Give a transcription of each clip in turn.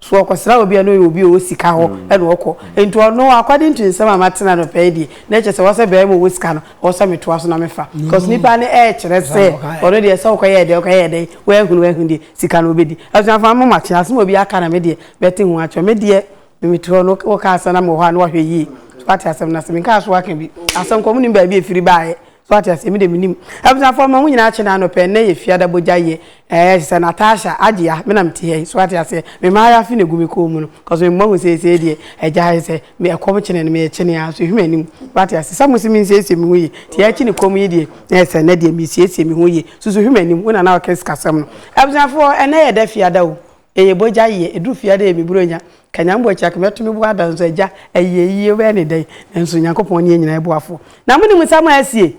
So ɔkɔsra obi a na ɔyɛ obi a ɔwɔ sika hɔ na ɔkɔ? Nti ɔno according to nsɛm a mate no anɔpa yi deɛ, na ɛkyerɛ sɛ ɔsɛ barima a ɔwɔ sika no, ɔwɔ sɛ metoa so na mefa. Because nipa no ɛrekyerɛ sɛ ɔno deɛ sɛ ɔkɔyɛɛ dɛn ɔkɔyɛɛ dɛn, wahunu wahunu deɛ, sika no ɔbɛdi. Abusuafoɔ mo mate, asɛm a obi aka na me deɛ mɛte ho akyerɛ. Me deɛ mete hɔ no wokaa asɛm na mewɔ hɔ a na wahwɛ yie. Wate asɛm no ase, menkaa so aka bi. Asɛm korɔ monim baabi a ɛfiri baeɛ. So wate aseɛ? Me deɛ menim. Abusuafoɔ mma mo nyinaa kyena anɔpɛ nnɛ yɛ fiada bogya yɛ. Ɛɛ te sɛ Natasha, Agyeya, me na mete ha yi. So wate aseɛ? Me maayafe na egu me kɔn mu no. Cause me mahu seesei deɛ agya ayɛ sɛ me ɛkɔm kyene no merekyene aa so ehwɛ m'anim. Wate aseɛ? Sɛ mo se me nsiesie me ho yie nti ɛɛkye ne kɔm yi deɛ na ɛsɛ nnɛ deɛ mesiesie me ho yie. Susu hwɛ m'anim. Wo na na ɔka sikasɛm no. Abusuafoɔ ɛnnɛ yɛ da fiada o. Eye bɔgya yie, ɛduru fie a dɛ ɛmi buro nya, ka Nyame bɔ akyira ka mɛto me bo ada nso agya, ayie yie wobɛyɛ ne dɛn, nanso Nyankopɔn ne yɛn nyinaa boafoɔ. Na monim nsɛm a asie?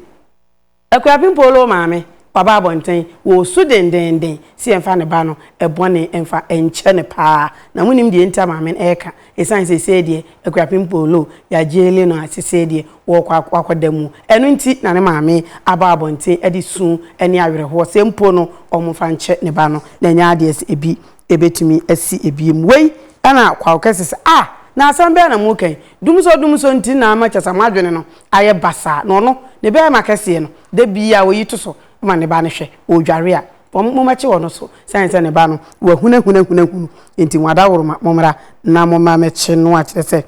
Akuapem Polo maame, waba abɔnten, wɔresu dendeenden sɛ yɛmfa ne ba no, bɔne mfa nkyɛ no paa, na monim deɛ nti a maame no ɛreka, Esiane seesei deɛ Akuapem Polo yɛ agyeele no a seesei deɛ wɔrekɔ ak akɔ da mu, ɛno nti na ne maame aba abɔnten de su ne awerɛhoɔ sɛ mpo no wɔmfa nkyɛ ne ba no na ɛnyɛ adeɛ sɛ ebi bɛtumi asi ebiem. Wei na Kwawo ka sɛ sɛ ah! na asɛm bɛn na moreka yi? Dumsɔ dumsɔ nti na ama kyerɛ sɛ moadwene no ayɛ basaa na ɔno ne bɛɛma kɛseɛ no da biara ɔyi to so ma ne ba no hwɛ ɔredware a wɔn, mommɛkye wɔn no so, sane sɛ ne ba no wahunahunahunahunu, enti mo adaworoma, mommra na momma mɛkye no a, kyerɛ sɛ,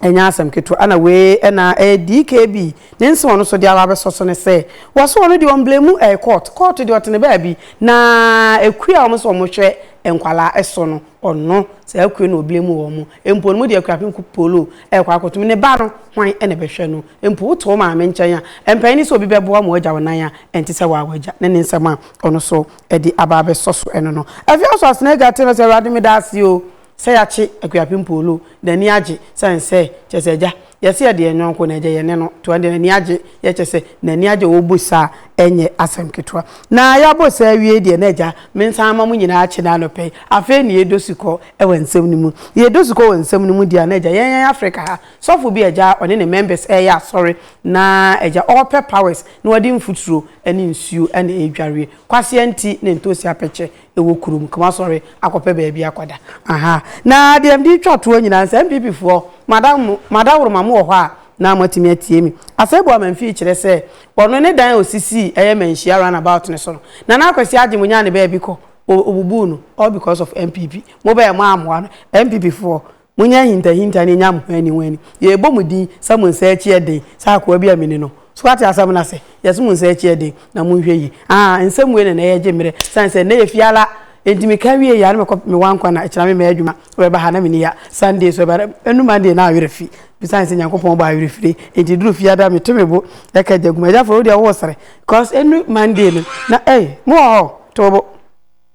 ɛnyɛ asɛm ketewa, ɛna wei na ɛyɛ DKB ne nse wɔn no so deɛ aba abɛsɔ so ne sɛ, wɔso wɔn no deɛ wɔn blame mu ɛyɛ court, court deɛ ɔtene baabi, na akue a wɔn se wɔn hwɛ nkwadaa so no, ɔno, saa akue no ɔblame wɔn, mpo no mo deɛ akuapem ko polo ɛrekɔ akɔtom ne ba no, hwan na ɛbɛhwɛ no? Mpo woto wo maame nkyɛn a, ɛmpɛe ne sɛ obi bɛboa ma woagya wo nan a ɛnte sɛ waa w'agya, ne ne nsɛm a ɔno nso de aba abɛsɔ so ɛno no. Afei nso Asenega tee no sɛ, Awurade, meda ase o sɛ yɛakye Akuapem Poolo, n'ani agye, sane sɛ, kyerɛ sɛ, agya, yɛse yɛde yɛn yɔnko na agya, yɛne no to, ɛnde n'ani agye, yɛ kyerɛ sɛ, n'ani agye wɔ wo bo saa a, ɛnyɛ asɛm ketewa. Na yɛabɔ saa awie deɛ na agya, mensan mma mo nyinaa kyene anɔpa yi, afei ne yɛdɔ sukɔ wɔ nsɛm no mu. Yɛdɔ sukɔ wɔ nsɛm no mu deɛ a na agya, yɛn yɛn Afrika ha, Sɔfo bi agya a ɔne ne members reyɛ asɔre na agya ɔɔpɛ powers na ɔde mfuturo ne nsuo na ɛredwareɛ. Kwasea nti na ntoosi apɛkyɛ wɔ kurom nti moasɔre akɔpɛ baabi akɔda. Aha na deɛ mede retwa toɔ nyinaa no sɛ NPP foɔ moada mo madaworoma mowɔ hɔ a na moatumi atie me. Asɛe Boaman fie kyerɛ sɛ ɔno ne dan a ɔsisii ɛyɛ Manhyia round about no so no. Nana Akwasi Adjei monyaa ne baabi kɔ ɔbubuu no all because of NPP. Mobɛɛ moammoa no. NPP foɔ Monyɛ ahintahinta ne nyam ho anihoani. Yɛrebɔ mo din sɛ mo nsa akyi yɛ den sɛ akoa bi a mini no. So woate asɛm no ase? Yes, mo nsa akyi yɛ den, na monhwɛ yie. Ahaa, nsɛm wei na na ɛyɛ gye mmerɛ, ɛsiane sɛ ɛnnɛ yɛ fie ara, enti meka wieeɛ a na mekɔ me wa nkwa na ɛkyena me mɛyɛ adwuma. Wobɛba ha na menni ha Sunday so ɛba dɛn? Ɛnnu Monday na awerɛ fi me ɛsiane sɛ Nyankopɔn bɔ awerɛfirie, enti ɛduru fie ara meto me bo ka agya Aguma, Agya Fore wodeɛ woresere because ɛnnu Monday no na ei, mowɔ hɔ? To wo bo.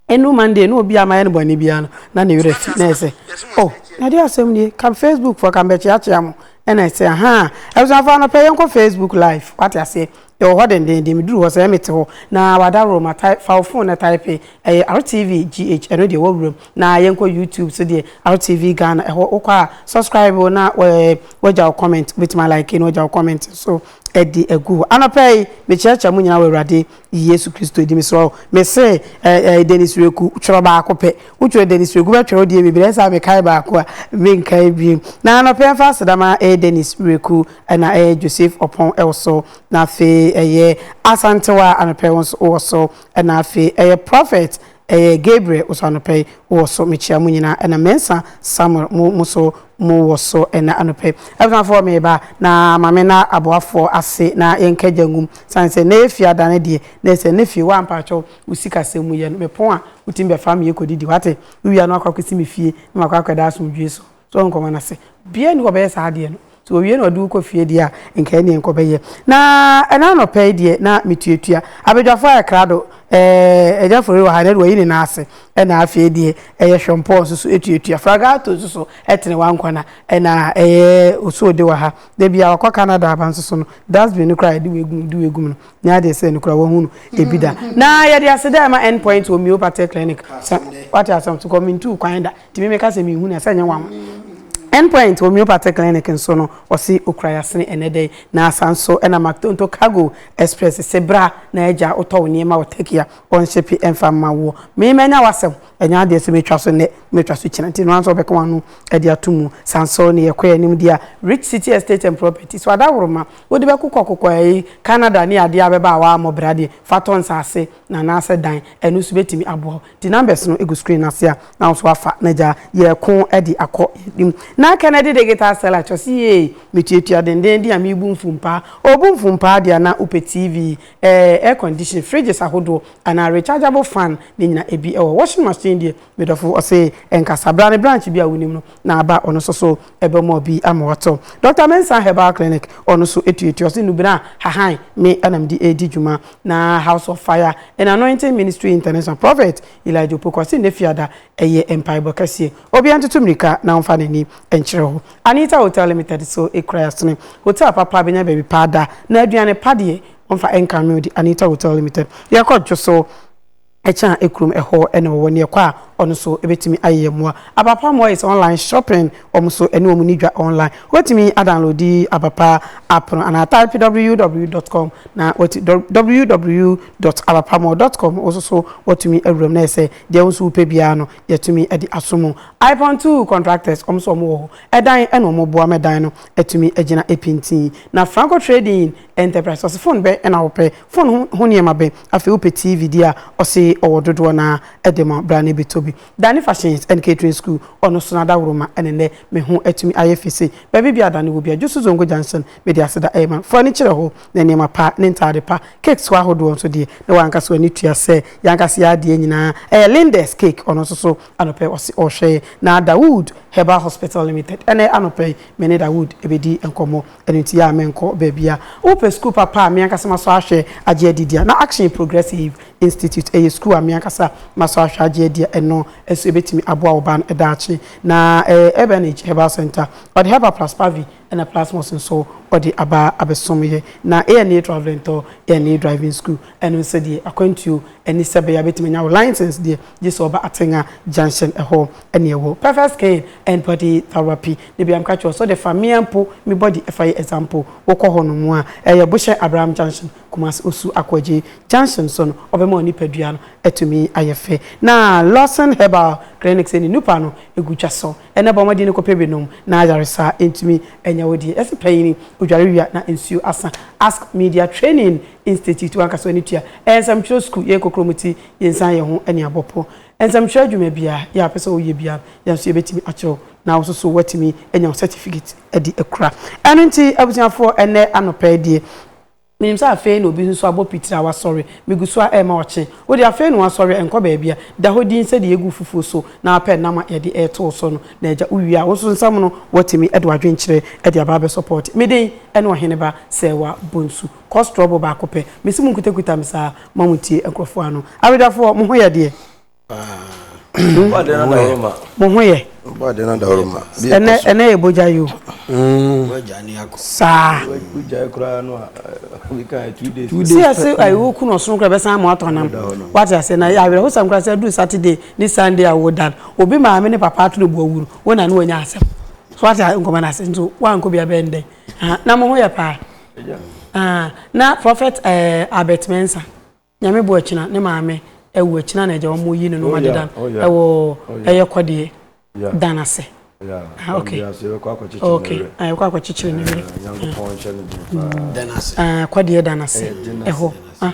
Ɛno Monday na obi a mayɛ no bɔne biara no na ne werɛ fi na ɛsɛ oh na deɛ asɛm nie ka Facebook foɔ ka mbɛkyeakyea mo ɛna ɛsɛ ahaa abusuafo anɔpɛ yɛnkɔ Facebook live wate aseɛ yɛwɔ hɔ dendenden meduru hɔ sɛ ɛyɛ mete hɔ na wadaworo ma tae fa wo phone na type ɛyɛ RTV GH ɛno deɛ wɔwuram na yɛnkɔ YouTube so deɛ RTV Ghana ɛhɔ wokɔ a subscribe o na wagya wo comment wobɛtumi alike na wagya wo comment so ɛde agu hɔ anɔpɛ yi mekyerɛkyerɛ mo nyina wɔ awurade Yesu Kristo di mesrɛ wo. Mese eh, eh, Dennis Reku, twerɛ baako pɛ. Wotwerɛ Dennis Reku bɛtwerɛ wo deɛ bebree sɛ mekae baako a menkae bio. Na anɔpɛ mfa aseda ma ɛyɛ Dennis Reku ɛna ɛyɛ Joseph Ɔpɔn ɛwɔ so. Na afei ɛyɛ Asantewa anɔpɛ wo nso wɔ so. Ɛna afei ɛyɛ Prophet Ɛyɛ Gabriel Osuanɔpɛ wɔ so mekyia mo nyinaa ɛna Mensah Samuel mo mo so mo wɔ so ɛna anɔpɛ yi Abusuafoɔ meba na Mame na aboafoɔ ase na yɛnka gya ngum sane sɛ nɛ yɛ fie adane deɛ na ɛsɛ ne fie waa mpakyɛw wo sika sɛm mu yɛ no mepon a wotumi bɛfa me yɛ kɔdidi wate wo wia na wakɔ akɔsi me fie na makɔ akɔda asomdwoe so. So nkɔma no ase? Obiara nni hɔ a ɔbɛyɛ saa adeɛ no. Sɛ ɔwie na ɔde wo kɔ fie deɛ a, nka ɛnneɛ nkɔbɛyɛ. Na ɛnnɛ anɔpa yi deɛ na metuatua abadwafoɔ ayɛ krado. Ɛɛ, Agya Fore wɔ ha, ɛnnɛ deɛ wayi ne nan ase, ɛna afei deɛ ɛyɛ Hwɛmpɔɔ nso so tuatua. Fragato nso so, ɛtene Wankwana, ɛna ɛyɛ Osuode wɔ ha. Da bi a wakɔ Canada aba nso so no, dustbin no koraa a yɛde wei gum, yɛde wei gum no, nyɛ adeɛ sɛ ɛno koraa wɔahu no bi da. Na yɛde aseda rema Endpoint Homeopathic Clinic. Sɛ woate asɛm so kɔ, mentu wo kwan da. Tumi meka sɛ me hu no a sɛ nyɛ nwanwa. End point homeopathy clinic nso no ɔse okura yasene ɛnɛ dɛ yi na asa nso ɛna maktonto cargo express se bra na agya wotɔ wo nneɛma wɔ Turkey a ɔnshipe ɛmfa mma woɔ me manya w'asɛm ɛnyɛ adeɛ so metwa so nnɛ mɛtwa so kyina nti noa nso ɔbɛka w'ano ɛde ato mu sa nso ne yɛkɔ yɛanim deɛ a rich city estate and property so adaworoma wode bɛkokɔ kokɔ ɛyi Canada ne adeɛ a bɛba a woammɔ bra deɛ fa tɔ nsaase na anaasɛ dan, ɛno nso bɛtumi aboa wo. Nti numbers no gu screen no ase a na wo nso woafa na gyaa yɛreko de akɔ yɛn anim. Na Kennedy Digital Seller kyerɛ sɛ yie metuatua dendenden a mebu mfumpaa. Ɔbu mfumpaa deɛ a na wopɛ TV, air condition, fridges ahodoɔ anaa rechargeable fan ne nyinaa ebi wɔ hɔ. Washing machine deɛ Me dɔfo ɔse ɛnkasa. Bra ne branch bi a wonim no na ba ɔno nso so ɛbɛma obi ama wato. Doctor Mensah Herbal Clinic ɔno nso tuatua. Ɔse nnubena a hahan me na mede redi dwuma. Na House of Fire and Anointing Ministry International Prophet Elijah Opoku ɔse nnɛ Fiada ɛyɛ mpaebɔ kɛseɛ. Obiara ntoto mmirika na ɔmfa n'ani nkyerɛ hɔ. Anita Hotel Limited so kura Yɛasene. Hotel papa bɛnya baabi pa ada. Na aduane pa deɛ ɔmfa nka meal de Anita Hotel Limited. Yɛkɔ dwo so. Ɛkyɛn a kurom hɔ na wɔwɔ ne ɛkɔ a ɔno nso bɛtumi ayɛ yɛn mmoa. Abapa mmoa is online shopping, wɔn nso ɛne wɔn nni dwa online. Wobɛtumi a download di Abapa app no anaa type www dot com na wati www dot abapamall dot com wo nso so watumi awura mu na yɛ sɛ deɛ wo nso wopɛ biara no yɛtumi de aso mu. Ipon two contractors wɔn nso wɔn wɔ hɔ, ɛdan na wɔn boa ma ɛdan no atumi agyina pintinn. Na Franco trading. Enterprise ɔse phone bɛ na wopɛ? Phone ho ho nneɛma bɛ? Afei wopɛ TV deɛ a ɔse ɔwɔ dodoɔ no ara de ma bra na bɛtɔ bi. Dani Fashions and Catering School ɔno so n'adaworoma ne nnɛ me ho atumi ayɛ fɛ sei. Baabi biara a Dani wɔ biara Jusu Zongo Junction mede aseda rema no. Fa w'ani kyerɛ hɔ na nneɛma pa ne ntaade pa, cakes ho ahodoɔ nso deɛ na w'ankasa w'ani tua sɛ y'ankasa y'adeɛ nyinaa ɛyɛ Lindes Cake ɔno nso so anɔpɛ ɔse ɔrehwɛ yɛn na Dawood Herbal Hospital Limited ɛnnɛ anɔpɛ yi me ne Dawood bɛdi nkɔmmɔ. Ɛno nti a menkɔ baabi a. Wopɛ sukuu papa a me ankasa masɔ ahwɛ agye adi di a, na Action Progressive Institute, ɛyɛ sukuu a me ankasa masɔ ahwɛ agye adi a ɛno nso ɛbɛtumi aboa wo ba no daakye. Na ɛyɛ Urbanage Herbal Centre. Ɔde Herbal plus Pavi ɛna Plasmos nso ɔde aba abɛsom yɛ. Na ANA Travel and Tour, ANA Driving School. Ɛno nso deɛ akwantuo ne sɛbɛyɛ a bɛtumi anya wo license deɛ gye sɛ ɔba Atenga junction ɛhɔ ne ɛwɔ. Perfect skin and body therapy ne bia meka kyerɛ wo sɛ wode fa mea mpo me body ɛfa yɛ example wokɔ hɔ nom a ɛyɛ bohyɛ Abraham junction Kumasi Osu Akoagye junction so no ɔbɛma wo nipadua no atumi ayɛ fɛ na Lawson herbal clinics ɛne nupa no ɛgu dwa so ɛnɛ bɔ mmɔden kɔpɛ bi nom na ayaresa ntumi anya wo deɛ yɛse panyini odware wia na nsuo asa ask media training Institute w'ankasa ne tua. Ɛyɛ nsɛmtwerɛ sukuu, yɛyɛ kokorom ti, yɛnsan yɛn ho ne abɔ pɔ. Nsɛmtwerɛ adwuma biara yɛ a wopɛ sɛ woyɛ biara, yɛn nso yɛbɛtumi akyerɛ wo na wo nso so woatumi anya wo certificate de akura. Ɛno nti abusuafoɔ ɛnnɛ anɔpa yi deɛ, menim sɛ afei na obi nso abɔ pitire a wasɔre, megu so a ɛrema ɔkye. Wo deɛ afei na woasɔre, ɛnkɔ baabia, da hɔ dinn sɛdeɛ yɛgu wo fufuo so na wapɛ nam a yɛde reto wo so no. Na agya, wowie a wo nso nsa mu no, woatumi de w'adwenkyerɛ de aba abɛsɔpɔɔte me den ne Ɔheneba Serwaa Bonsu. kɔ straw bɔ baako pɛ mesi mo nkutakuta me saa ma mo tie nkurɔfoɔ ano awedafoɔ mo ho yɛ deɛ mo ho yɛ ɛnɛ ɛnɛ yɛ bogya yi o saa si ɛsɛ ayiwo kun ɔsono kura bɛsan mo atɔ nam wate ase na awerɛho sam kura sɛ duru saturday ne sunday a wodan obi maame ne papa ato ne bo awuru wo na ne wɔnya asɛm so wate nkɔmɔ na ase nso wankɔ bi abɛn dɛn Ah, na mo ho yɛ paa. Ah, na Prophet eh, Albert Mensah, nyame bo akyina, ne maame awu akyina na agya wɔn yi no nom oh, adedan ɛwɔ oh, oh, ɛyɛ kɔdeɛ dan ase. Ah, okay. Okay. Ah, ɛkɔ akɔkyekyere ne werɛ. Ah, kɔdeɛ dan ase ɛhɔ. Ah.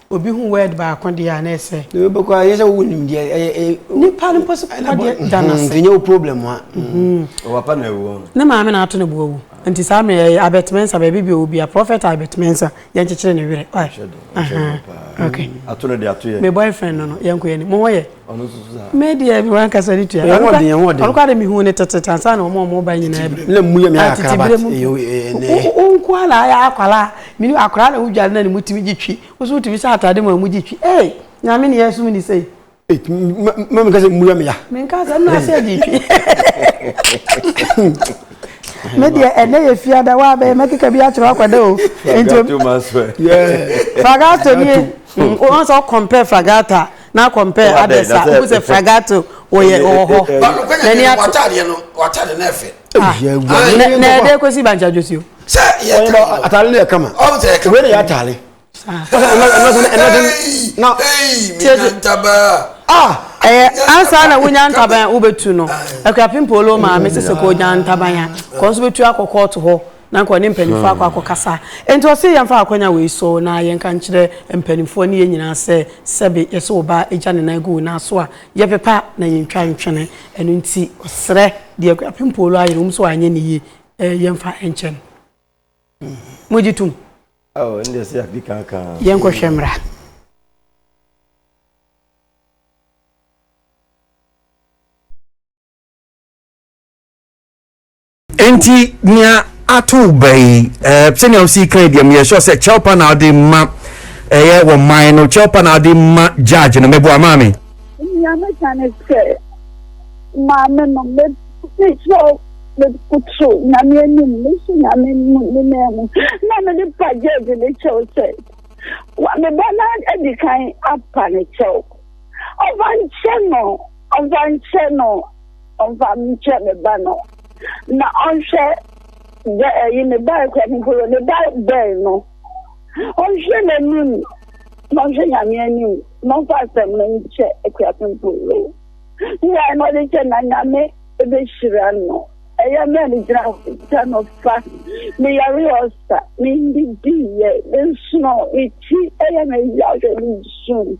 Obi hu word baako deɛ a na ɛsɛ. Deɛ wobɛkɔ a ɛnyɛ sɛ wowɔ nimdeɛ ɛyɛ ɛyɛ. Nipa no mpo so kɔ deɛ da no ase. Nti nyɛ wo problem ha. Wɔ papa na awu wɔn. Ne maame na ato ne bo awu. Nti saa mmerɛ ɛyɛ Albert Mensah baabi bi ɔwɔ bia prophet Albert Mensah yɛn kyekyere ne werɛ. Why? Ahaa okay. Ato no deɛ ato yɛ. Me boyfriend no no yɛnkɔ yɛn anim. Mo ho yɛ? ɔno nso so saa. me deɛ mi wan kasa ne tua. ɛyɛ hɔ den ɛhɔ den. ɔno kora de mi hu ne tete tansa na wɔn a wɔn ba nyinaa bi. na mu yɛ mi ayɛ akara ba ɛnɛ. o nko a na ayɛ akwara mi ni akwara na wudwa na ne mu ti mi gye twi wosu wotumi sɛ ataade mu a mu gye twi ee nyame ni yɛ sum ni sɛ. mɛ mi ka sɛ mu yɛ mi ya. mi nka sɛ nna ase gye twi. me deɛ ɛnɛ yɛ fiada wa bɛyɛ mɛkeka bi akyerɛ akɔda o nti fagato nie wɔn sɛ ɔkɔmpɛ fagata Na compare others a wohu sɛ Fragato wɔyɛ wɔ hɔ. N'ani ato. W'ataadeɛ no w'ataadeɛ no ɛfɛ. Nɛ nɛ ɛdɛ kɔsi bankye adwosuo. Sɛ yɛ tɛ no. Ataale no yɛ kama. Ɔn sɛ yɛ kama. Wei na yɛ ataale. ɛyɛ ansa na wonya ntaban wobɛtu no akura pimpolo maame sese kɔ nya ntaban a kɔ nso bɛtu akɔ kɔɔto hɔ Na anka ɔne mpanimfoɔ akɔ akɔkasa. Enti ɔse yɛmfa akwanya wei so na yɛnka nkyerɛ mpanimfoɔ ne yɛn nyinaa sɛ, sɛbe yɛse wo ba gya ne nan gu wo nan so a, yɛpepa na yɛntwa ntwene. Ɛno nti ɔsrɛ deɛ Kwabena Mpoolo ayɛ no, ɛwom sɛ wanyɛ no yie, yɛmfa nkyɛ no. Mogye tom? Oh, ɛno deɛ sɛ yɛadi kankan. Yɛnkɔhwɛ mmra. Enti nea ato wo ba yi, eh, sɛnea wosi kan deɛ meyɛ sure sɛ kyɛw pa na wode ma ɛyɛ wɔ man no kyɛw pa na wode ma judge no mɛboa maame. Nea meka ne sɛ maame no mekyerɛw mekoto nyame anim mesu nyame ne nan mu na mede pa judge ne kyɛw sɛ meba na adi kan apa ne kyɛw ɔfa nkyɛ no ɔfa nkyɛ no ɔmfa nkyerɛ ne ba no, na ɔnhwɛ dɛ ɛye ne ba rekɔ no mpo no, ne ba bɛn no, ɔnhwɛ n'anim, na ɔnhwɛ Nyame anim, na ɔmfa asɛm no nkyɛ akuafo mpo no, mmeae na ɔde kyɛ, na Nyame behyira no. Ɛyɛ me a migyina hɔ yi, kyɛ no fa. Meyaree ɔsa, minndidiiɛ, mensonoe, me ti yɛ me yaw, hwɛ, misu.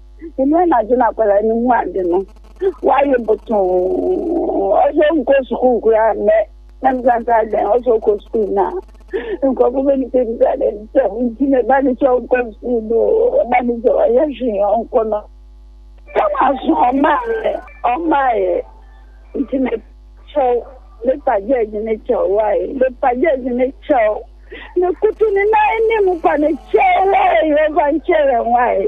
Ntsi na anadwo no akwadaa no hu adze no, ɔayɛ botoo, ɔsɛ ɔnnkɔ skuul koraa ndɛ. Na misa no dɛ, Adɛn, ɔsɛ ɔkɔ skuul? Na nkorɔfo bebisabisa dɛ, Dɛm ntsi na eba no sɛ ɔnnkɔ skuul no o, ɔba no dze ɔyɛ hwee ɔnnkɔ no. Nna ɔaso ɔmbaayɛ, ɔmbaayɛ. Ntsi me kyɛw, mepa George ne kyɛw, why? Mepa George ne kyɛw, mekutu ne nan enyim pa ne kyɛw, why? Ɔfa nkyɛrɛn, why?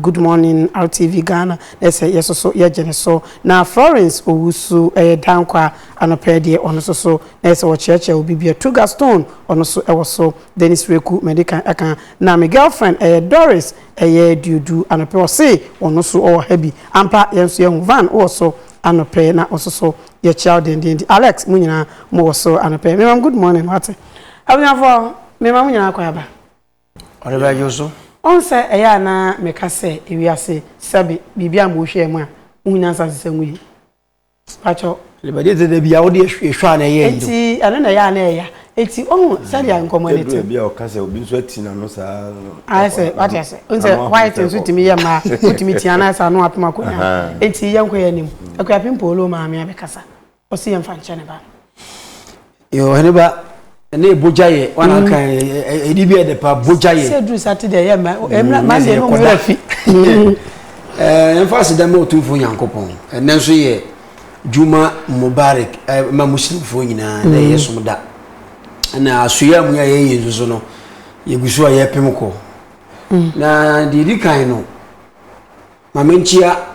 Good morning RTV Ghana na sɛ yɛso so yɛgye no so na Florence Owusu ɛyɛ Dankwa anɔpa yi deɛ ɔno so so na yɛ sɛ ɔkyerɛkyerɛ obi bia Tuga Stone ɔno so ɛwɔ so Dennis Reku mɛdi kan ɛka na me girlfriend ɛyɛ Doris ɛyɛ Duodu anɔpɛ ɔse ɔno so ɔwɔ ha bi ampa yɛn so yɛhu Van wɔ so anɔpɛ na ɔso so yɛkyia wo dendenden Alex mo nyinaa mo wɔ so anɔpɛ memam good morning wate abunyafo memam nyinaa kɔ aba Ɔde bɛdwo so. Ɔn sɛ ɛyɛ a na meka sɛ ewiase sɛbe biribi a mo hwɛɛ mu a mohu nyansa sesa mu yi pakyɛw. Libadi dze dabi a wode ehwɛ a na ɛyɛ yie. Nti ɛno na ɛyɛ a na ɛya nti ohu sɛdeɛ nkɔmɔ no te. Ɛduru baabi a ɔka sɛ obi nso ati n'ano saa. Ayɛ sɛ wate ase n sɛ white nso tumi yɛ mmaa wotumi ti anaasɛ ano apem akonnwa nti yɛnkɔ yɛn anim Akuapem Paul o maame abɛkasa. ɔsi yɛn fa nkyɛn ne ba. yoo ɛne ba ɛne ebogya yɛ wɔn mm. anka ɛdi bi ɛde pa bogya yɛ. sɛ duru sati de ɛyɛ mɛ ɛmɛ mɛ de ɛmu wura fi. ɛɛ yɛn fa asi dɛm otumfo nyankopɔn ɛnɛ nso yɛ juma mubarak ɛɛ ma muslimfoɔ nyinaa ɛna ɛyɛ mm. som da ɛna asoya mu yɛ yɛ yɛ nso no yɛ gu so a yɛ pem kɔ mm. na deɛ edi kan no maame nkyia.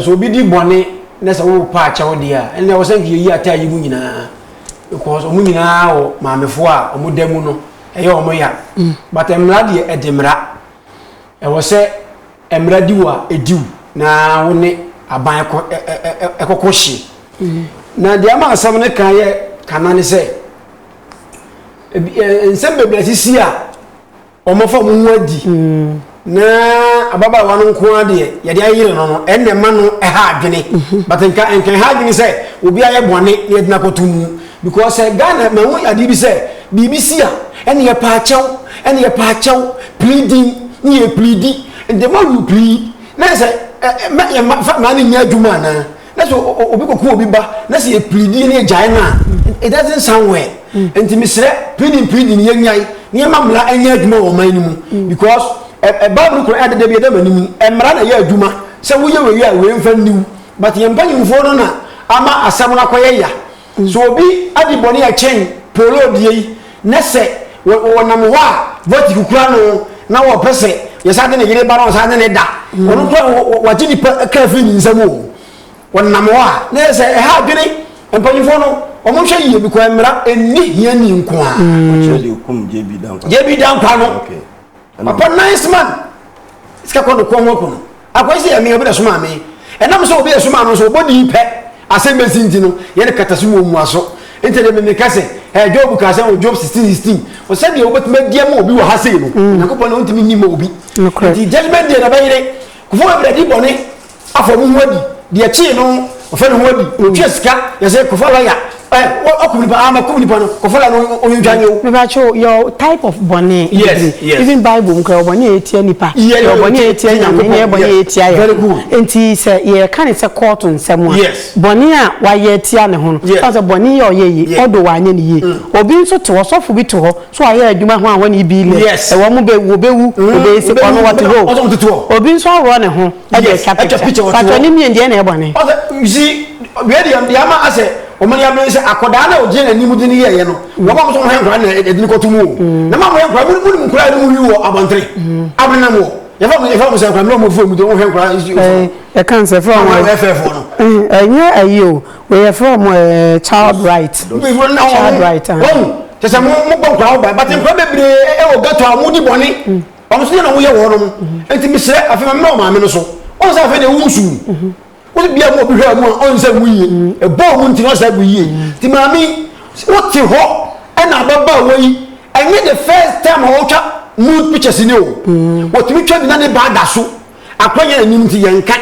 Sɛ obi di bɔne na sɛ wopopa akyɛwdeɛ a, ɛnna ɛwɔ sɛ nka yɛyi ataayi mu nyinaa because wɔn nyinaa wɔ maamefoɔ a wɔn da mu no ɛyɛ wɔn ya mm. but mmara deɛ ɛde mmara ɛwɔ sɛ mmara di wo a ɛdi wo na wo ne aban ɛkɔkɔ hye mm. na deɛ ama asɛm no kan yɛ kana ne sɛ nsɛm bebree sisi a Wɔafa mo ho adi, na ababaawa no nko ara deɛ yɛde ayere no no, ɛnna ɛma no ha adwene. Mhm. But nka nka ɛha adwene sɛ obi ayɛ bɔne na yɛde no akɔto mu. Because sɛ Ghana ma ho adeɛ bi sɛ biribi si a, ɛnna yɛpa akyɛw, ɛnna yɛpa akyɛw, pleading ne yɛ pleadi, the more you plead, na sɛ ɛ ɛ mɛ yɛ ma fa maa no nyɛ adwuma anaa. na sɛ obi kɔku obi ba na sɛ yɛpiridi ne yɛgyae no a it doesn't sound well nti mesrɛ piridi mpiridi no yɛnyae ne yɛma mmara ɛnyɛ adwuma wɔ ɔman no mu because bible kora ɛde da bi ɛda m'anim mmara na ɛyɛ adwuma sɛ woyɛ wei a wei mfa nniw but yɛn mpanyimfoɔ no na ama asɛm no akɔyɛ ya So obi adi bɔne a ɛkyɛn Paulo deɛ yi, na sɛ wɔnam hɔ a vote kukura no na wɔpɛ sɛ yɛsan de ne yere ba na wɔsan ne ne da, ɔno nko ara wɔgye nipa kra afiri ne nsam o. Wɔnam hɔ a, na ɛyɛ sɛ ɛha adwene mpanyinfoɔ no, wɔnhwɛ yie because mmara nni hiani nko ara. JB Dankwa no. Papa nice man. Sika kɔ no kɔn ho kɔn. Akwa si yɛ me obi na soma me. Ɛnam sɛ obi yɛ soma no so obo di pɛ. Asɛm bɛsi nti no yɛ ne kata so mu omua so. Nti de me me ka sɛ ɛɛ Job ka sɛ wɔ Job 16 16 wɔ sɛ deɛ obetumi adi ama obi wɔ ha sei no Onyankopɔn na ontumi nni ma obi. Nti judgment day na bɛyere kofo bebree di bɔne Afɔ mo ho adi deɛ kyee no ɔfɛ ne ho adi mm. ɔtua sika yɛsɛ kɔfa lɔya ɔkum nipa ama kum nipa no kɔfa lɔya no ɔyintwa nyɛ o. mebakyɛ your type of bɔne yes yes even bible mu kura ɔbɔne a ɛtia nipa yɛ ɔbɔne a ɛtia nyame ne ɛbɔne a ɛtia yɛ nti sɛ yɛka ne sɛ kɔɔto nsɛm a bɔne a wayɛ tia ne ho no ɔn sɛ bɔne yɛ ɔyɛ yi ɔdo wanyɛ ne yie mm. obi nso te ɔsɔfo bi te hɔ so ayɛ adwuma ho a wɔne bi lɛ ɛwɔ mo bɛwu wɔbɛwu wɔbɛyɛ sɛ ɔno wɔte hɔ obi nso aworɔ ne ho ɛde atwa picture atwa picture wɔte hɔ fatɔ ne mmienu deɛ na ɛyɛ bɔne ɔsɛ si wei deɛ deɛ ama asɛ wɔn ni abiri sɛ akɔdaa na ɔgyina n'anim de ne yɛ yɛ no mm. wɔn a wɔn nso wɔn yɛ nkora na ɛde ne kɔtu mu o mm. na maa wɔn yɛ nkora mu mu nkora yɛ mu yi wɔ abɔntene mm. abiri na mu wɔ yɛfɛ mu yɛfɛ mu sɛ nkora mu na wɔn fo mu de wɔn hɛ nkora esi ofo ɛ kan sɛ fɛ wɔn ɛ fɛ fo no ɛ nyɛ ayi o wɔyɛ fɛ wɔn ɛ child right child right wɔn kyɛ sɛ mo mo bɔ nkora wɔn ba bati nkora bebree ɛwɔ gɛtɔ a wɔn di bɔnne. ɔno nso deɛ na woyɛ wɔ hɔnom nti mesrɛ afei ma mmerɛ ɔmaame no so ɔn sɛ afei deɛ wo nsu wo bia mu obi hwɛ mu a ɔn sɛ wo yie ɛbɔɔ mu nti na ɔsɛ bu yie nti maame wote hɔ ɛna ababa wɔ yi ɛnyɛ the first time a wɔtwa nude pictures ni o wɔtumi twa bi na ne ba da so akora nyɛ n'anim nti yɛn nka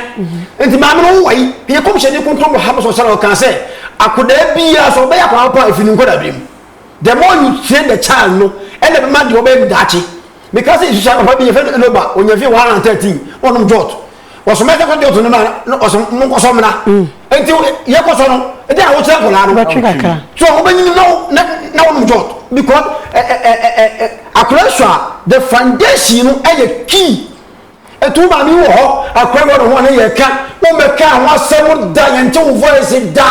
nti maame no wowɔ yi yɛ kɔmhyɛni kontombo ha bɛsɔ sɛ ɔka sɛ akodaa biara sɛ ɔbɛyɛ akwadaa pa efi ne nkɔdaa bi mu the more you train the child no ɛna ɛbɛma deɛ ɔbɛyɛ no daakye meka sɛ susua papa bi yɛfɛ no enoba ɔnya fie 113 ɔnom jot ɔsoma ɛsɛ kɔ jot no ma na ɔsɛ mo nkɔsɔ mmena nti yɛkɔsɔ no ɛdɛ a wokyerɛ nkɔlaa no so wobɛnyini na wonom jot because akora su a the foundation no ɛyɛ key Ɛto wo maame yi wɔ hɔ akwa wɔ ne ho ne yɛ ka wo mɛ ka ho asɛm da yɛn te wo voice da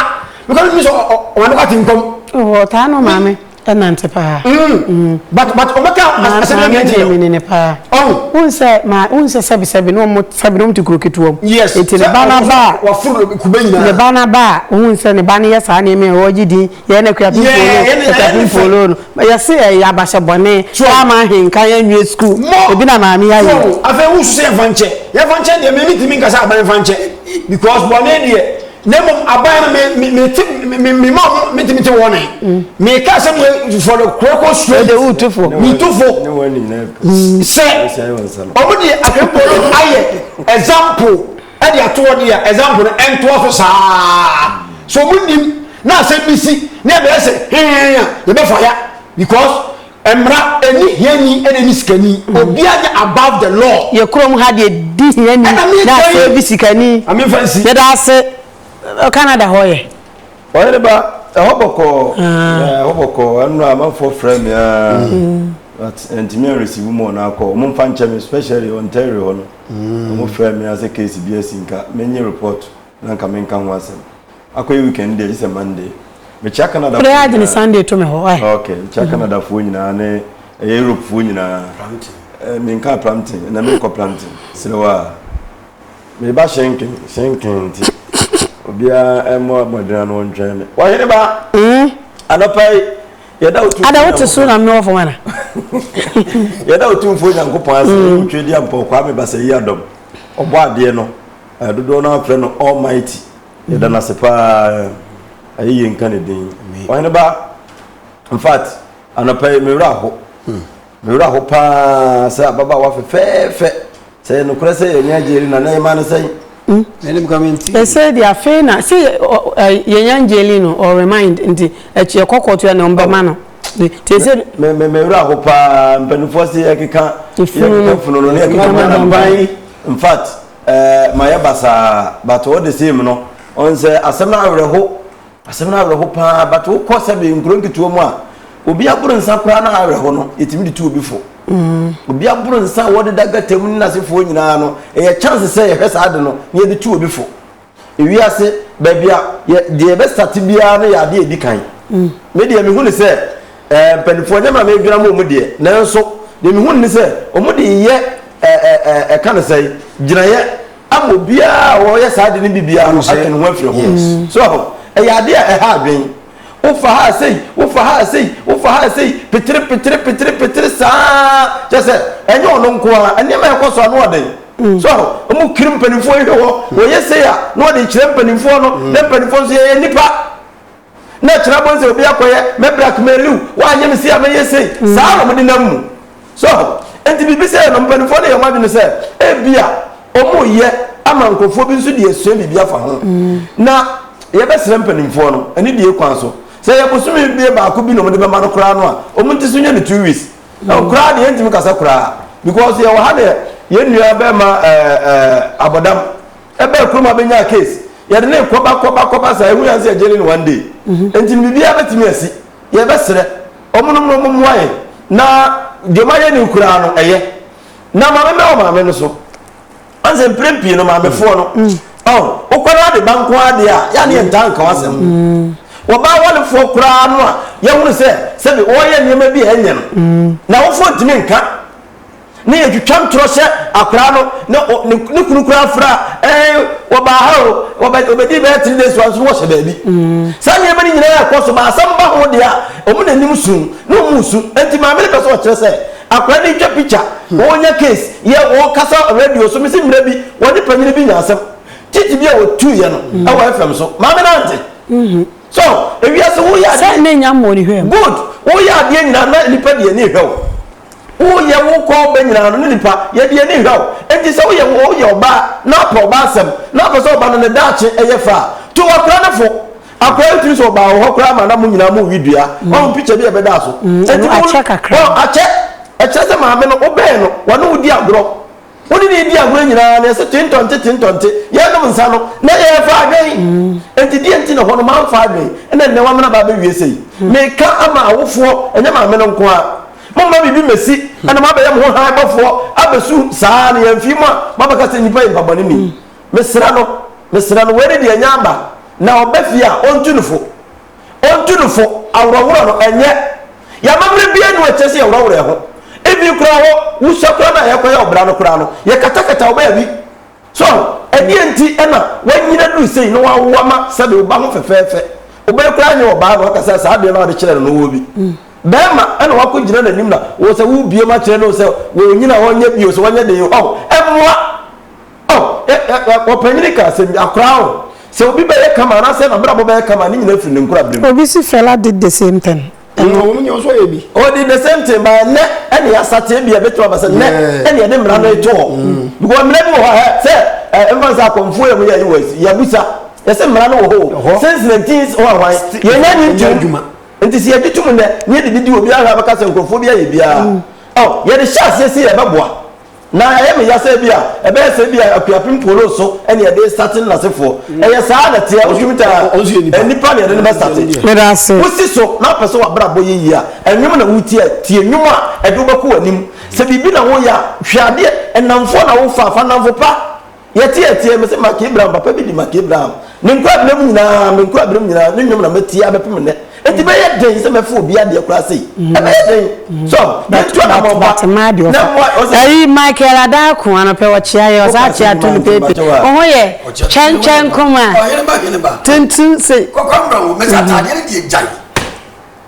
because ɔno sɛ ɔma ne wate nkɔm. Ɔwɔ oh, taa no maame ɛnante paa. Mm. Mm. But but ɔmɛ ka asɛm yɛn mɛ ti yɛ. Maame ne paa. Ɔn. Wun sɛ maa wun sɛ sɛbi sɛbi ne ɔmo sɛbi ne ɔmo ti kuro ketewa mu. Yes. Eti ne ba na ba. Wafuru kube nyinaa. Ne ba na ba wun sɛ ne ba ne yɛ saa nneɛma yɛ ɔgye din yɛ ne kura pimpoolo kura pimpoolo no yɛ se ɛyɛ abahyɛ bɔne ama ahenka yɛ nwie sukuu ebi na maame yɛ ayɛ. afei n wusu sɛ yɛn fa nkyɛ yɛn fa nkyɛ deɛ mɛmi tìmi nkasa aban fa nkyɛ because bɔne deɛ na mmom aban no mɛ mɛ mɛ ti mɛ mɛ mɛ ma ɔmo mɛ tìmi ti wɔn nan mɛ ka sɛ mo for the koroko suo ɛde wu tu fo mi tu fo sɛ ɔmo deɛ akɛmpɔ no ayɛ example. de ato hɔ deɛ a example no ɛntoa so saa so ɔmo nim na asɛm bi si na ɛbɛyɛ sɛ hɛn a yɛbɛfa ya because mmara ɛni hiani ɛna ɛni sikani obiara nyɛ above the law. yɛ kurom ha deɛ di hiani Ɛna mi na nkyɛn. afei bi sikani Maame nfa nsi. yɛda ase ɛ, canada hɔ yɛ ɔyɛ ne ba ɛhɔ bɔkɔɔ Yeah, ɛhɔ bɔkɔɔ ɛno na amanfoɔ frɛ me aa but ɛntumi anresivu mu ɔno akɔ ɔmo mfa nkyɛ me especially ontario hɔ no Ɔmo frɛɛ me ara sɛ case bi asi nka menye report na nka menka ho asɛm. Akɔyɛ weekend deɛ gye sɛ Monday. Mekyea Canada foɔ nyinaa. Ok, mekyea Canada foɔ nyinaa ne ɛyɛ Europe foɔ nyinaa. Menkaa Prampton, ɛnɛ menkɔ Prampton. Serɛ wo a. Meba Schenken, Schenken nti obiara mmɔ mmɔden ano ntwɛn me. Ɔhene ba! Anɔpa yi. yɛda wotu ada wote so na mmewɔ fam ana yɛda wotumfoɔ nyankopɔn ase mm. ɛyɛ wotwe di ampɔ kwaa me basa yi adɔm ɔbɔ adeɛ no dodoɔ no afrɛ no almighty yɛda no ase paa ɛyɛ yɛ nka ne din ɔhene ba infact anɔpa yi mewerɛ aho hmm. Me werɛ ahow paa sɛ ababaawa fɛfɛɛfɛ. Sɛ ɛyɛ nokorɛ sɛ yɛanya Angelina na yɛmaa no sɛn? Menim ka mentii. Ɛsɛ deɛ afei na sɛ yɛanya Angelina no ɔ remind nti ɛkyi ɛkɔkɔ to ɛna ɔmbɛma no bi nti ɛsɛ. Me me me werɛ ahow paa mpaninfoɔ se yɛkeka yɛkeka funu no na yɛkeka ma no ban infact ɛɛ mayɛ basaa but all the same no ɔn sɛ asɛm no awerɛhow. Asɛm no awerɛho pa ara, but wokɔ sɛbe nkuro nketewa mu a, obi aboro nsa koraa na awerɛho no, yɛtumi de tu obi fo. Mm. Obi aboro nsa a wɔdeda gata mu ne n'asefoɔ nyinaa no, ɛyɛ chance sɛ yɛhwɛ saa ade no na yɛde tu obi fo. Ewiase baabi a yɛ deɛ yɛbɛsate biara no yɛ adeɛ edi kan. Mm. Me deɛ mehu ne sɛ ɛɛ eh, mpanimfoɔ nyɛ maa medwira mu wɔn deɛ, nanso deɛ mehu ne sɛ wɔn de yɛ ɛɛ eh, ɛɛ eh, ɛka ne sɛ gyinaeɛ. ama obiara a ɔyɛ saa de no bibiara no atwe ne ho afiri ho so aho ɛyɛ ade a ɛha adwen wofa ha sei wofa ha sei wofa ha sei petere petere petere petere saa kyɛ sɛ ɛnyɛ ɔno nko ara nneɛma ɛkɔ so ano ɔden Mm. so ɔmo kiri mpanimfoɔ yi hwɛ hɔ wɔyɛ sei a na wɔde kyerɛ mpanimfoɔ no na mpanimfoɔ nso yɛyɛ nipa na ɛkyena bɔ sɛ obi akɔyɛ mɛ blackmailiw wanyɛ me sei a mɛyɛ sei saa na wɔde nam mu so nti biribi sɛ no mpanimfoɔ no yɛ wɔn adwene sɛ ebi a wɔn yɛ ama nkurɔfoɔ bi nso de asua biribi afa ho na yɛbɛsrɛ mpanimfoɔ no ɛne die kwan so sɛ yɛ bosome bie baako bi na wɔde bɛma no koraa no a wɔn nti so nyɛ no two weeks na koraa deɛ ntumi kasa koraa because yɛ wɔ ha deɛ yɛn nua bɛrima ɛɛ ɛɛ abɔdam. Ɛbaa kurom a bɛnyaa case. Yɛde no rekɔba kɔba kɔba saa ɛhu yɛn sɛ yɛgye no no one day. Nti no biribiara bɛtumi asi. Yɛbɛsrɛ wɔn nom no wɔn mmoa yɛn na deɛ wɔn ayɛ no koraa no ɛyɛ. Na maame mmɛ wɔ maame no so. Wɔn sɛ mpere pii no maamefoɔ no ɔn wokɔ no ade ba nko ara deɛ a yɛ a ne yɛn ntaa nka w'asɛm. Wɔbaa wɔlefoɔ koraa no a yɛhunu sɛ sɛbi wɔreyɛ nneɛma bi a ɛnyɛ no. N'awofoɔ ntumi nka. ne yɛ twitwam torɔ hyɛ akwadaa no na ɔ ne ne kunu koraa fura ɛɛ eh, wɔbaa ha o wɔbɛ wɔbɛdi bɛyɛ three days wa nso no wɔhyɛ baabi mm. saa nneɛma no nyinaa ɛkɔ so ma asɛm ba ho deɛ a wɔn n'anim sun na wɔn su nti maame no pɛ sɛ ɔkyerɛ sɛ akwadaa no ntwa picture hmm. wɔn nya case yɛ wɔn kasa radio so mesi mmerɛ bi wɔn ne panyin bi nya asɛm titi bi a wɔtu yɛ no hmm. ɛwɔ fm so maame no ante hmm. so ewiase woyɛ adeɛ sɛ ne nya mmɔ ne hwɛ good woyɛ adeɛ nyinaa na nipa deɛ ne hwɛ o. Woyɛ wo kɔɔ bɛ nyinaa no ne nipa yɛ deɛ ani nhwɛ wo. Enti sɛ woyɛ woyɛ ɔbaa na wopɛ ɔbaa asɛm na wopɛ sɛ ɔba no ne daakye yɛ fɛ a, to akora no fo. Akora yi tumi sɛ ɔbaa wɔ hɔ koraa ma na mo nyinaa mo we dua. Wahu picture bi a ɛbɛdaa so. Enti mo, akyɛ. Ɛkyerɛ sɛ maame no, wobɛn no, wɔne wo di agorɔ. Wo ne no redi agorɔ nyinaa no, yɛse tentɔnte tentɔnte, yɛrenom nsa no, na yɛrefa adwen. Enti deɛn nti na hɔ no moamfa adwen, ɛna nnɛ woamene aba abɛwie sei? Meka ama awofoɔ, ɛnyɛ maame no nko ara. Momma biribi mmɛsi na moabɛyɛ mo ho hann bɔfoɔ abɛsu saa ara, na yɛamfii mu a, moabɛka sɛ nnipa yi mpabɔne nni mu. Mesrɛ no, mesrɛ no, wei ne deɛ ɛnya aba, na ɔba fie a, ɔntu no fo. Ontu no fo, aworɔworɔ no, ɛnyɛ. Yɛn amammerɛ biara nni hɔ a ɛkyerɛ sɛ yɛworɔworɔ yɛn ho. Even koraa hɔ, wusua koraa no a yɛkɔyɛ ɔbra no koraa no, yɛkatakata wo baabi. So ahu? Ɛdeɛn nti na w'anyini aduru sei na w'awo ama sɛdeɛ wo ba ho fɛfɛɛfɛ? Wo bere koraa nyɛ ɔbaa na w'aka sɛ saa adeɛ no a wode kyerɛɛ no no wɔ bi. Barima na w'akɔ gyina n'anim na wo sɛ wo rebue mu akyerɛ no sɛ w'anyini a ɔnyɛ bio sɛ w'anyɛ den o. Ɔho? Ɛmmoa. Oh, ɛ, ɛ, ɛ, ɔpanyin ka asɛm bi, akwaraa o, sɛ obi bɛyɛ kama anaasɛ n'abrabɔ bɛyɛ kama a, ne nyinaa firi ne nkorabere mu. Obi se Fela did the same thing. Ɛno. Ɛwom, nyɛ nso ɔyɛ bi. Ɔ did the same thing, but ɛnnɛ ɛna yɛasate, ebia ɛbɛtumi aba sɛ nnɛ Yeah. ɛna yɛde mmara no reto hɔ. Because mmara bi wɔ hɔ a, hɛ, sɛ, ɛ, ɛmfa no sɛ akɔmfoɔ yɛ mo yɛ US, yɛabusa, yɛse mmara no wɔ hɔ o, Ɛhɔ. since 19 hwan hwan, Sti- yɛnnya nnye ɛnyɛ ntom. adwuma. Nti sɛ yɛgye tom nnɛ, na yɛde didi, obiara hwɛ a bɛka sɛ nkurɔfoɔ bi ayɛ biara. Ɔ, yɛde hyɛ aseɛ sɛ yɛbɛboa, Na ɛyɛ me ya sɛ ebia ɛbɛyɛ sɛ ebia Akuapem Polo so na yɛde resate no n'asefoɔ. Ɛyɛ saa na ɛteɛ, ɔsoro tare a, ɛyɛ nnipa na yɛde no bɛsate. Wosi so na wopɛ sɛ w'abrabɔ yɛ yie a, ɛnwom na woretie a, tie nnwom a ɛde wo bɛkɔ w'anim. Sɛ biribi na woreyɛ a, hwɛ adeɛ, nnamfoɔ na wofa a, fa nnamfo pa. Yɛteɛteɛɛ me se Mark Abraham, papa bi de Mark Abraham, ne nkwaberem nyinaa, me nkwaberem nyinaa, ne nnwom na matie abɛpem nnɛ. Enti ɛbɛyɛ den sɛ mɛfa obi adeɛ koraa sei. Ɛbɛyɛ den. So, yɛntu anammɔn pa But mmaa deɛ na ɔfa. mmoa, ɔse, Ayi Michael Adaaku ano pɛ ɔkyea yɛ ɔsaa kyea to no pɛɛpɛ. Wo ho yɛ kyɛnkyɛn nkoma. Ɔheneba, heneba. Tenten se. Kɔkɔmbra o, mese ataadeɛ no deɛ gyae.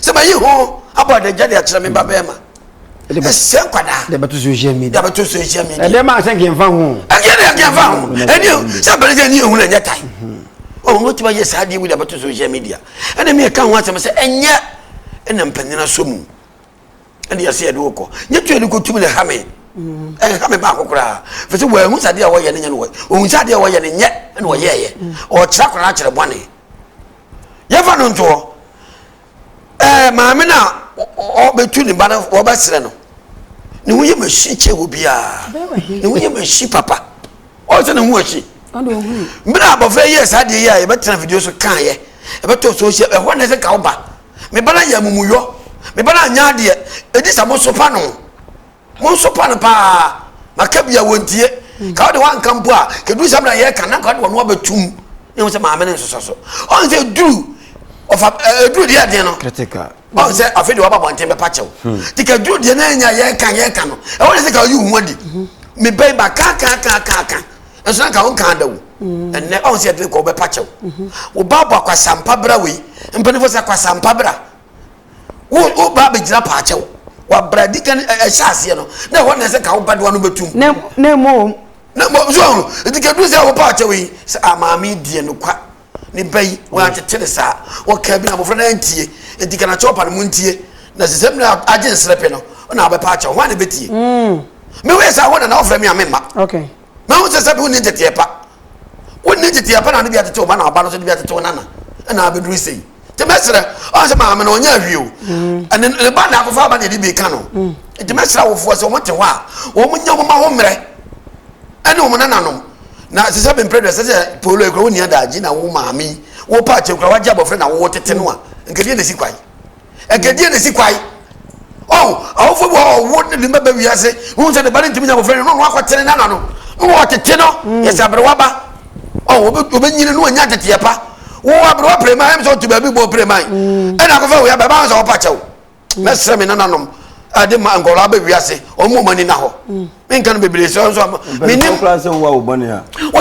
sɛ mayi ho abɔ adagya de akyerɛ me ba bɛrima ɛsɛ nkwadaa yɛbɛto social media yɛbɛto social media ɛdeɛ maa sɛ nkɛmfa ho ɛdeɛ deɛ nkɛmfa ho ɛdeɛ sɛ abɛrɛ sɛ ɛni ehun ɛnyɛ tae ɔwɔ mo tuma yɛ saa deɛ wuli abɛto social media ɛna mi ɛka ho asɛm sɛ ɛnyɛ ɛna mpanyin asɔ mu. ɛne yɛsɛ yɛde wokɔ nyɛ tuo ne kɔtum ne ha me mm. ɛha me baako koraa fɛ sɛ wɔahu sɛ adeɛ a wɔyɛ no nyɛ no wɔ ɔhu sɛ adeɛ a wɔyɛ no nyɛ ɛne wɔyɛɛyɛ mm. ɔkyerɛ akora no akyerɛ bɔne yɛfa no ntoɔ ɛɛ maame no a ɔbɛtu ne ba no wɔbɛserɛ no ne ho yɛ mahyi kyɛ wɔ biara ne ho yɛ mahyi papa ɔyɛ sɛ ne ho akyi mmerɛ abɔfra yɛ saa adeɛ yi a yɛbɛtena video so kaeɛ ɛbɛtɔ social ɛhɔ ne sɛ ka wo ba Me ba no ayɛ amumuyɔ. Me ba no anyɛ adeɛ. Ɛdi sɛ mosopa no. Monsopa no paa. Maka bi a wɔntie. Ka wode woanka mpo a, kɛduru sɛ mena yɛka na nka wode wɔno abɛtum. Ne ho sɛ maame no nsosɔ so. Ɔhu sɛ ɛduru ɔfa ɛduru deɛ ɛdeɛ no. Critical. Ɔhu sɛ afei deɛ waba bɔnten bɛpa kyɛw. Hmm. Ti kɛduru deɛ na ɛnya yɛka yɛka no. Ɛwɔ ne sɛ ka ɔyi wo ho adi. Hmm. Me bɛn ba ka ka ka ka ka. nso na nka wo nka da wo mm. ɛnɛ ɔn sɛ ɛdene kɔ wobɛpa kyɛw mhm. wo ba bɔ akwasampa bra wei mpanimfoɔ sɛ akwasampa bra wo ba bɛgyina paa kyɛw wabra di kan ɛhyɛ aseɛ no na ɛhɔ na ɛsɛ ka wo ba doa no bɛtum na mmom na mmom so ɔno nti kɛduru sɛ wopa kyɛw yi sɛ amaame ah, deɛ nokwa ne ba yi wɔatete ne saa wɔka bi na abɔfra no antie nti kana kyɛw pa no mu ntie na sɛ sɛ mmerɛ agye nsrɛ pɛ no na wobɛpa kyɛw ho a ne bɛtie mm. mewei sɛ wo na na wofrɛ me a memma okay Ma wo sɛ sɛbi wonni nteteɛ pa wonni nteteɛ pa na ne bi atete wo ba na ɔba no so ne bi atete wo nana ɛna abɛduru sei nti mɛsrɛ ɔn sɛ maame no ɔnyɛ ahwie o mm. ɛne ne ba na akɔfa aba na ɛde bi ka no mm. nti mɛsrɛ awofoɔ sɛ wɔn te hɔ a wɔn nyɛ wɔn ma ho mmerɛ ɛne wɔn nananom na sɛ sɛ bɛmpere dɛ sɛ sɛ polo ekura wo nia daagye na wo maame wo paakyɛ kura wagye abɔfra na wo tete no a nkɛdeɛ na esi kwan Ɛkɛdeɛ na ɛsi kwae. Ɔn, awofo bi wɔ hɔ ɔwo ne ne mma ba wiase, wohu sɛ ne ba no ntumi nya abɔfra no, na ɔno akɔtene n'ano. Na wɔtete no, yɛ sɛ aberewa ba. Ɔn, ɔbɛnyini na wanya nteteɛ pa. Wo aberewa preman, ɛm sɛ ɔte baabi bɔ preman. Ɛna akɔfa wo yaba, ɛbɛba ho sɛ ɔpa kyɛw. Mɛsrɛ me nananom ɛde ma nkɔla aba wiase, ɔmo ɔmo ani na hɔ. Menka no bebree sɛ ɔnso ama. Menim. Mpɛn kura sɛ wo wa wo bɔne a.